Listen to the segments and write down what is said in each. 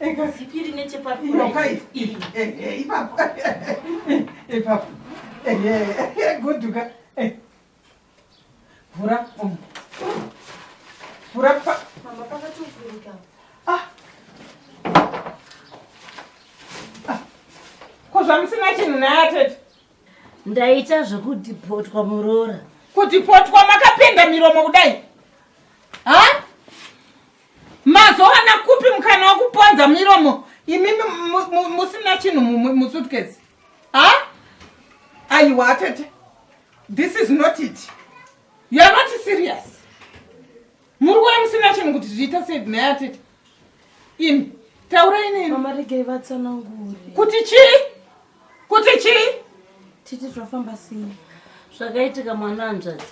Ega zipiri nechepapi. Inoka ipi. Eh, eh, ipapo. Ipapo. Eh, eh, guduka. Eh. Vura. Um. Vura pa. Mama pakatuvurika. Ah. Ah. Ko zvamusina chinhu naye atete. Ndaita zvekudipotwa muroora. Kudipotwa makapenda miromo kudai. Ha? Mazowana kupi mukana wekuponza miromo imi musina chinhu musutkesi ha aiwa tete this is not it you are not serious muri kuya musina chinhu kuti zviita sei nhaya tete imi taurai nini kuti chii kuti chii titi tofamba sini zvakaitika mwana anzvadzi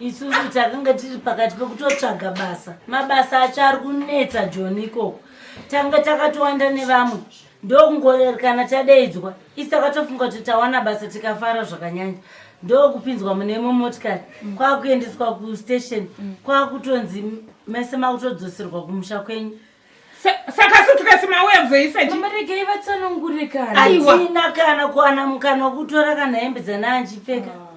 isusu takanga tiri pakati pekutotsvaga basa mabasa acho ari kunetsa joni ikoko tanga takatowanda nevamwe ndokungoerekana tadeidzwa isi takatofunga kuti tawana basa tikafara zvakanyanya ndokupinzwa mune imwe motikari mm. kwakuendeswa kustation mm. kwakutonzi mese makutodzoserwa kumusha kwenyu saka sutukesi mauya kuzoisa chi mama regai vatsanangure kana aiwaina kana kuwana mukana wokutora kana hembe dzana anjipfeka ah.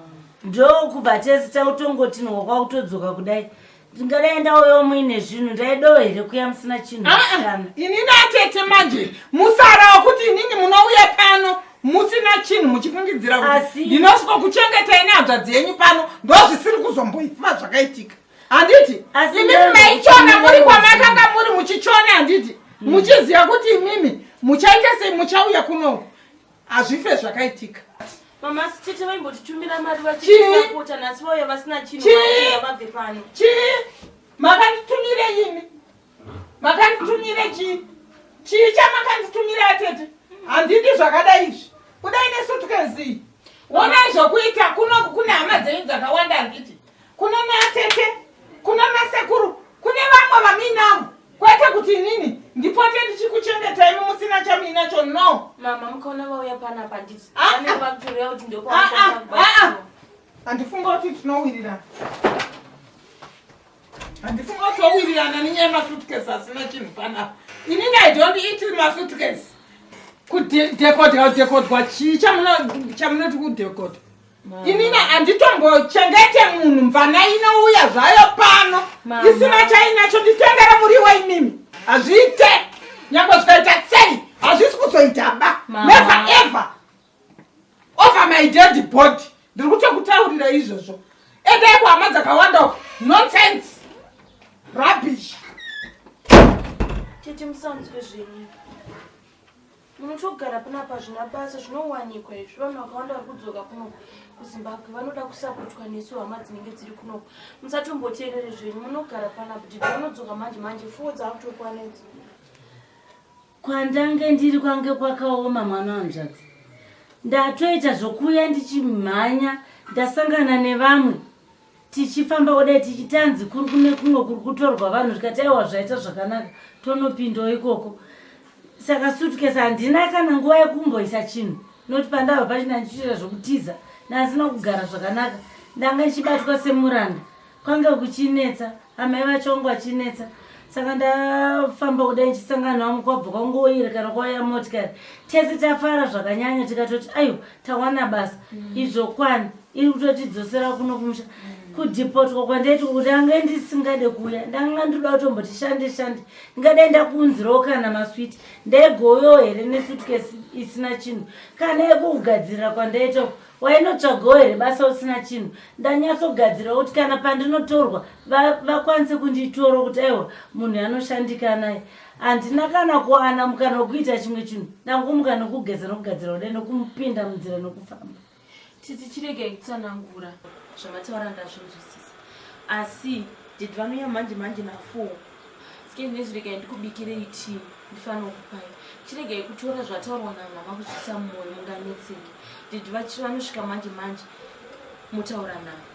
ndokubva tese tautongotinwa kwakutodzoka kudai ndingadai ndauyo muine zvinhu ndaidowo here kuya musina chinhu ah, ah. kana ini natete manje musara wokuti inini munouya pano musina chinhu muchifungidzira kuti ndinosviko kuchengetai nehadzvadzi yenyu pano ndozvisiri kuzomboifa zvakaitika handiti imimi maichona muri kwamakanga muri muchichona handiti hmm. muchiziva kuti imimi muchaita sei muchauya kuno hazvife zvakaitika mama sitete vaimbotitumira mari vachiisapota nhasi vauya vasina chinhu vabve pano chii makanditumire imi makanditumira chii chii chamakanditumira atete handidi zvakadai izvi kudai nesutukenzii wonai zvokuita kuno kune hama dzenyu dzakawanda handiti kuno neatete kuno nasekuru kune vamwe vaminavo kwete kuti inini ndipote ndichikuchengetai mumusina chamuinacho no mama mukaona vauya pana panditi ah, ah. vanenge vakutoreva kuti ndokwaa ah, handifunga kuti tinowirirana handifuni watowirirana nenyaya yemasuitcase asina chinhu panapa ini i don't eat masuitcase kudekodwa kudekodwa chii chamunoti kudekodwa inina handitombochengete munhu mvana inouya zvayo pano isina chainacho nditengere muriwo imimi hazviite nyange zvikaita sei hazvisi kuzoita ba never ever over my dead body ndiri kutokutaurira izvozvo endai kuhama dzakawanda uko nonsense rubbish tete musanzwe zvenyu munotogara panapa zvina basa zvinowanikwa izvi vanhu vakawanda vari kudzoka kunoku kuzimbabwe vanoda kusapotwa nesu hama dzinenge dziri kunoku musatomboteerere zvenyu munogara panapa tete vanodzoka manje manje fuwo dzaakutokwanedza Kwandange ndiri kwange kwakaoma mwana wanzvadzi. Ndatoita zvokuya ndichimhanya ndasangana nevamwe tichifamba kudai tichitanzi kuri kune kumwe kuri kutorwa vanhu zvikati aiwa zvaita zvakanaka tonopindawo ikoko. Saka suitcase handina kana nguva yekumboisa chinhu noti pandava pachina ndichiita zvokutiza ndandisina kugara zvakanaka ndanga ndichibatwa semuranda Kwanga kuchinetsa, amai vacho vanga vachinetsa saka ndafamba kudai ndichisangana navo kwabva kwangoyiri kana kwauya motikari tese tafara zvakanyanya tikatoti aiwa tawana basa mm. izvo kwani iri kutotidzosera kuno kumusha mm. kudhipotwa kwandaitwa kuti ange ndisingade kuuya ndanga ndoda kutomboti shande shande ndingadai ndakuunzirawo kana maswiti ndaigovewo here nesutkesi isina chinhu kana yekugadzirira kwandaitwa wainotsvagawo here basa usina chinhu ndanyatsogadzirawo kuti kana pandinotorwa vakwanise kunditoro kuti aiwa munhu anoshandika naye handina kana kuwana mukana wekuita chimwe chinhu ndangumuka nokugeza nokugadzira kudai nokumupinda munzira nokufamba titi chiregai kutsanangura zvamataura ndazvinzwisisa asi did vamiya manje manje nafour skenezviregai ndikubikirei tii ndifanira kupai chiregai kutora zvataurwa namama kuchisa mumwoyo munganetseki did vanosvika manje manje motaura navo